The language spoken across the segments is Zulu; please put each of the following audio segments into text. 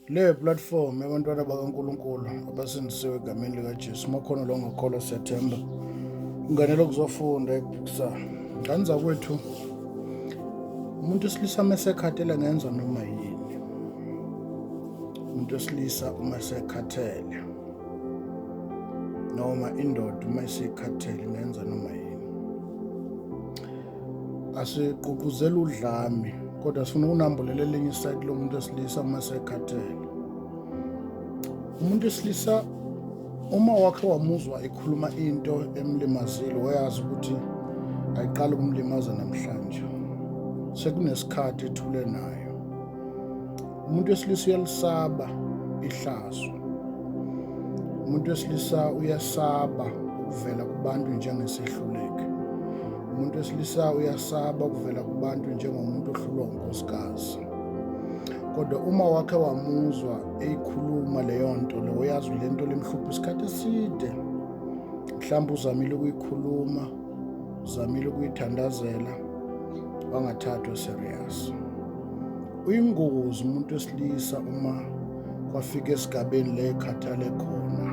le platform yabantwana bakaNkulunkulu abasindisiwe egameni likaJesu makhono lo ngakholwa Septemba unganele ukuzofunda ekusa ngani zakwethu umuntu osilisa mesekhathele ngenza noma yini umuntu osilisa uma esekhathele noma indoda uma isikhathele ngenza noma yini asigqugquzela udlame kodwa sifuna ukunambulela elinye isayidi lomuntu esilisa uma sekhathele umuntu esilisa uma wakhe wamuzwa ekhuluma into emlimazile wayazi ukuthi ayiqala ukumlimaza namhlanje sekunesikhathi ethule nayo umuntu wesilisa uyalisaba ihlazo umuntu wesilisa uyasaba ukuvela kubantu njengesehluleke umuntu wesilisa uyasaba ukuvela kubantu njengomuntu ohlulwa unkosikazi kodwa uma wakhe wamuzwa eyikhuluma leyo nto leyo yazi le nto limhlupha isikhathi eside mhlawumbe uzamile ukuyikhuluma uzamile ukuyithandazela wangathathwa serious Uyingozi umuntu wesilisa uma kwafika esigabeni le khathale khona.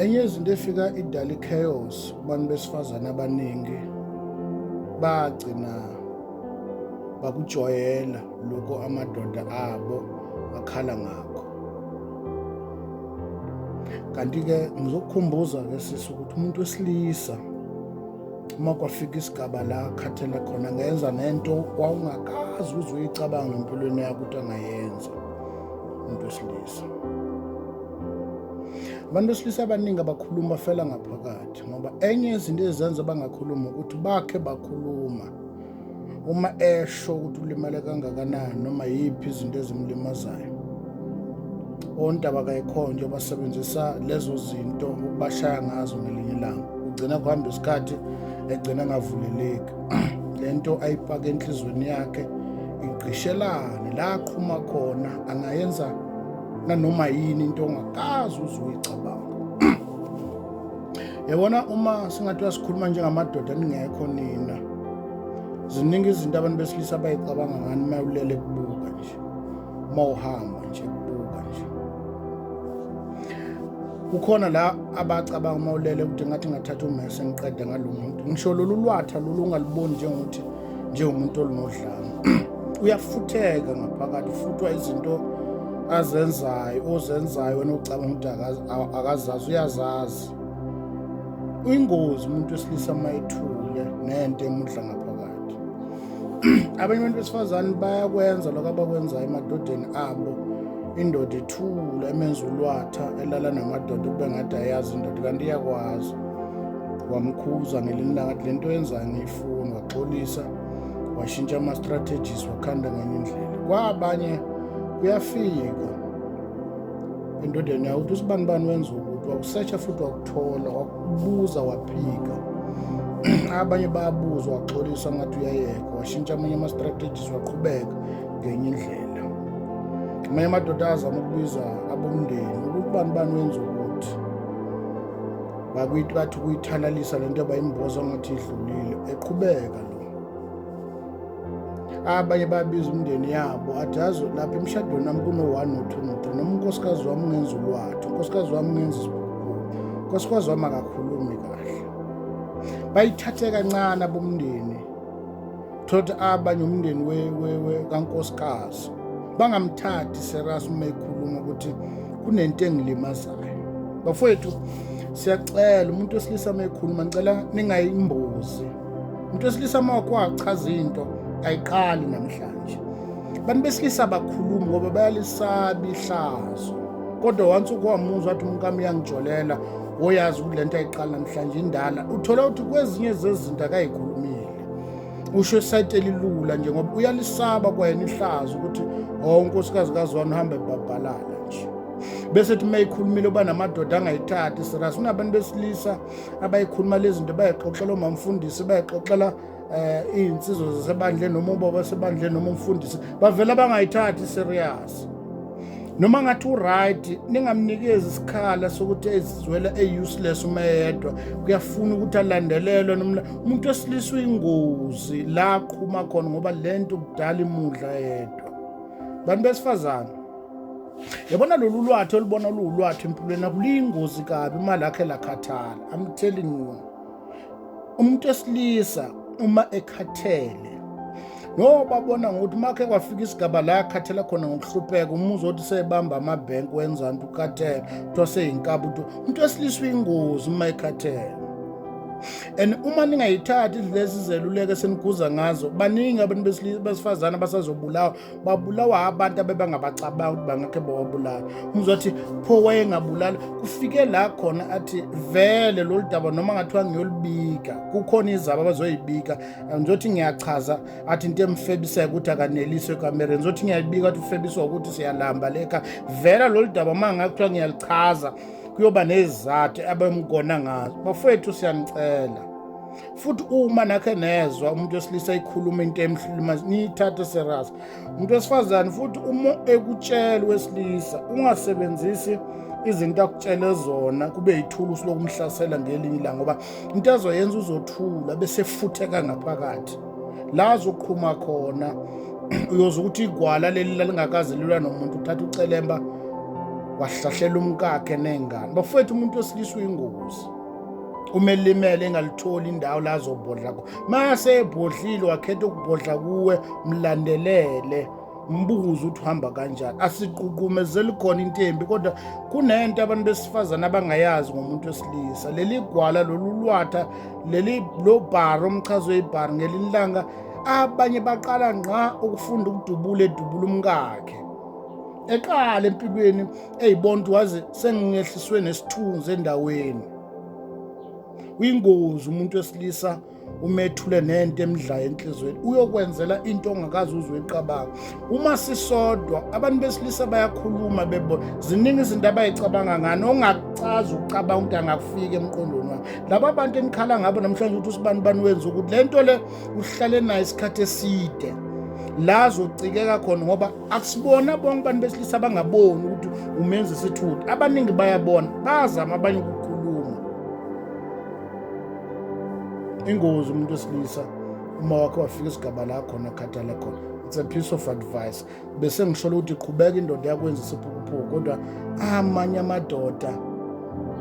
Enye izinto efika idala i-chaos kubantu besifazane abaningi bagcina bakujwayela lokho amadoda abo akhala ngakho. Kanti-ke ngizokukhumbuza-ke sisi ukuthi umuntu wesilisa uma kwafika isigaba la khathele khona ngenza nento wawungakazi uzoyicabanga empilweni yakho ukuthi angayenza umuntu wesilisa abantu besilisa abaningi abakhuluma bafela ngaphakathi ngoba enye yezinto ezenza bangakhulumi ukuthi bakhe bakhuluma uma esho ukuthi ulimale kangakanani noma yiphi izinto ezimlimazayo ontaba kayikhonjwa basebenzisa lezo zinto ukubashaya ngazo ngelinye ilanga ugcina kuhamba isikhathi egcina ngavuleleki le nto ayipake enhliziyweni yakhe igqishelane la aqhuma khona angayenza nanoma yini into ongakazi uze uyicabanga yabona uma singathiwa sikhuluma njengamadoda ningekho nina ziningi izinto abantu besilisa bayicabanga ngani uma ulele kubuka nje uma uhamba nje kubuka nje kukhona la abacabanga uma ulele ukuthi ngathi ngathatha umese ngiqede ngalo muntu ngisho lolu lwatha lolu ungaluboni njengokuthi njengomuntu olunodlame uyafutheka ngaphakathi ufuthwa izinto azenzayo ozenzayo wena ucabanga ukuthi akazazi uyazazi uyingozi umuntu wesilisa uma ethule nento emudla ngaphakathi abanye abantu besifazane bayakwenza lokho abakwenzayo emadodeni abo indoda ithula emenza ulwatha elala namadoda kube ngathi ayazi indoda kanti iyakwazi wamkhuza ngelinye ilanga le nto yenzayo foni waxolisa washintsha ama-strategies wakhanda ngenye indlela kwabanye kuyafika endodeni yakuthi usibani bani wenza ukuthi wakusetsha futhi wakuthola wakubuza waphika abanye bayabuza waxolisa ngathi uyayeka washintsha amanye ama-strategies waqhubeka ngenye indlela amanye amadoda azama ukubiza abomndeni ukuthi bani bani wenza ukuthi bakithi bathi ukuyithalalisa le nto abayimboza ngathi idlulile eqhubeka lo abanye babiza umndeni yabo athi yazi lapha emshadweni wami kuno-one no-two no-three noma unkosikazi wami ungenza ulwathu unkosikazi wami ungenza isibukhulu unkosikazi wami akakhulumi kahle bayithathe kancane abomndeni thothi abanye umndeni we, we, we kankosikazi bangamthathi serious uma ekhuluma ukuthi kunento engilimazayo bafowethu siyacela umuntu wesilisa uma ekhuluma ngicela ningayimbuzi umuntu wesilisa uma wakwachaza into ayiqali namhlanje abantu besilisa abakhulumi ngoba bayalisaba ihlazo kodwa once ukwamuzwa athi umuntu kami uyangijolela woyazi ukuthi le nto ayiqali namhlanje indala uthola ukuthi kwezinye zezinto akayikhulumile usho esayiti elilula nje ngoba uyalisaba kwayena ihlaza ukuthi o oh, unkosikazi kazwani uhambe ebhabhalala nje bese thi uma ikhulumile uba namadoda angayithathi siras unabantu besilisa abayikhuluma le zinto bayixoxela omamfundisi bayixoxela um eh, iy'nsizwa zasebandleni noma ubaba sebandleni noma umfundisi bavele abangayithathi serious noma ngathi uright ningamnikezi isikhala sokuthi ezizwela e-useless uma eyedwa kuyafuna ukuthi alandelelwe nomla umuntu wesilisa uyingozi la aqhuma khona ngoba le nto kudala imudla yedwa bantu besifazane yabona lolu lwathi olubona luwulwathi empilweni akuliyingozi kabi uma lakhe lakhathala i'm telling you umuntu esilisa uma ekhathele ngoba bona ngokuthi makhe kwafika isigaba la yakhathela khona ngokuhlupheka umuzwa othi sebamba amabhenki wenza nto ukhathele kuthiwa seyinkaba ukuthi umuntu wesilisa uyingozi uma ekhathele and uma ningayithathi lezi zeluleko eseniguza ngazo baningi abantu besifazane abasazobulawa babulawa abantu abebangabacabangi ukuthi bangakhe bawabulala umzothi pho wayengabulala kufike la khona athi vele lolu daba noma ngathiwa ngiyolibika kukhona izaba abazoyibika ngizothi ngiyachaza athi into emfebiseka ukuthi akaneliswe ekamereni ngizothi ngiyayibika athi ufebiswa ukuthi siyalamba leka vele lolu daba uma ngakuthiwa ngiyalichaza kuyoba nezizathu abemgona ngazo bafowethu siyanicela futhi uma nakhe nezwa umuntu wesilisa ekhuluma into emhluluma niyithathe serious umuntu wesifazane futhi uma ekutshela wesilisa ungasebenzisi izinto akutshele zona kube yithulusi lokumhlasela ngelinye ilanga ngoba into azoyenza uzothula bese futheka ngaphakathi la azoqhuma khona uyoze ukuthi igwala leli lalingakaze lilwa nomuntu uthatha ucelemba wahlahlela umkakhe nengane bafowethu umuntu wesilisa uyingozi uma elimele engalitholi indawo la azobhodla ko mase ebhodlile wakhetha ukubhodla kuwe mlandelele mbuze ukuthi uhamba kanjani asiququmezeli khona intembi kodwa kunento abantu besifazane abangayazi ngomuntu wesilisa leli gwala lolu lwatha leli lo bhari omchazo webhari ngelinye ilanga abanye baqala ngqa ukufunda ukudubula edubula umkakhe eqala empikweni eyibontu waze sengingehliswe nesithunzi endaweni uyingozi umuntu wesilisa umethule nento emdlayo enhlizweni uyokwenzela into ongakazi uzwe iqabanga uma sisodwa abantu besilisa bayakhuluma bebona ziningi izinto abayicabanga ngani ongakucazi ukucabanga ukuthi angakufika emqondweni wami laba bantu enikhala ngabo namhlanje ukuthi usibani bani wenza ukuthi le nto le uhlale nayo isikhathi eside la zocikeka khona ngoba akusibona bonke abantu besilisa abangaboni ukuthi umenza isithutha abaningi bayabona bazama abanye ukukhuluma ingozi umuntu wesilisa uma wakhe wafika isigaba la khona akhathale khona it's a piece of advice bese ngisholo ukuthi qhubeka indoda yakwenza isiphukuphuku kodwa amanye amadoda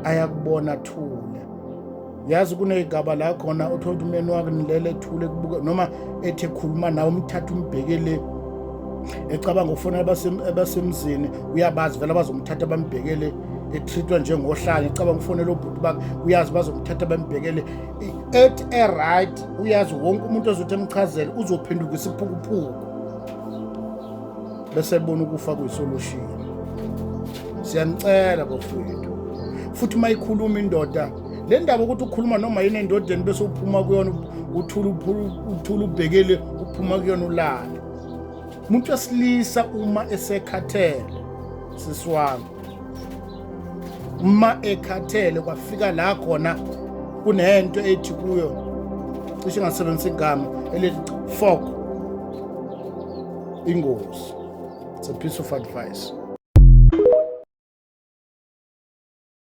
ayakubona thule yazi kuney'gaba la khona othola ukuthi umyeni wakhe nilele ethule kubuka noma ethi ekhuluma nawe umthatha umbheke le ecabanga ukufona abasemzini uyabazi vele abazomthatha bambheke le ethritwa njengohlanya ecabanga ukufonela obhuti bakhe uyazi bazomthatha bambhekele ethi eright uyazi wonke umuntu ozothi emchazele uzophenduka isiphukuphuku bese bona ukufa kuyisolushini siyanicela bafowethu futhi uma ikhuluma indoda le ndaba ukuthi ukhuluma noma yini endodeni bese uphuma kuyona uthula uthula ubhekele uphuma kuyona ulale umuntu wesilisa uma esekhathele sisi wami uma ekhathele kwafika la khona kunento ethi kuyo cishe ngasebenzisa igama elithi fok ingozi it's a piece of advice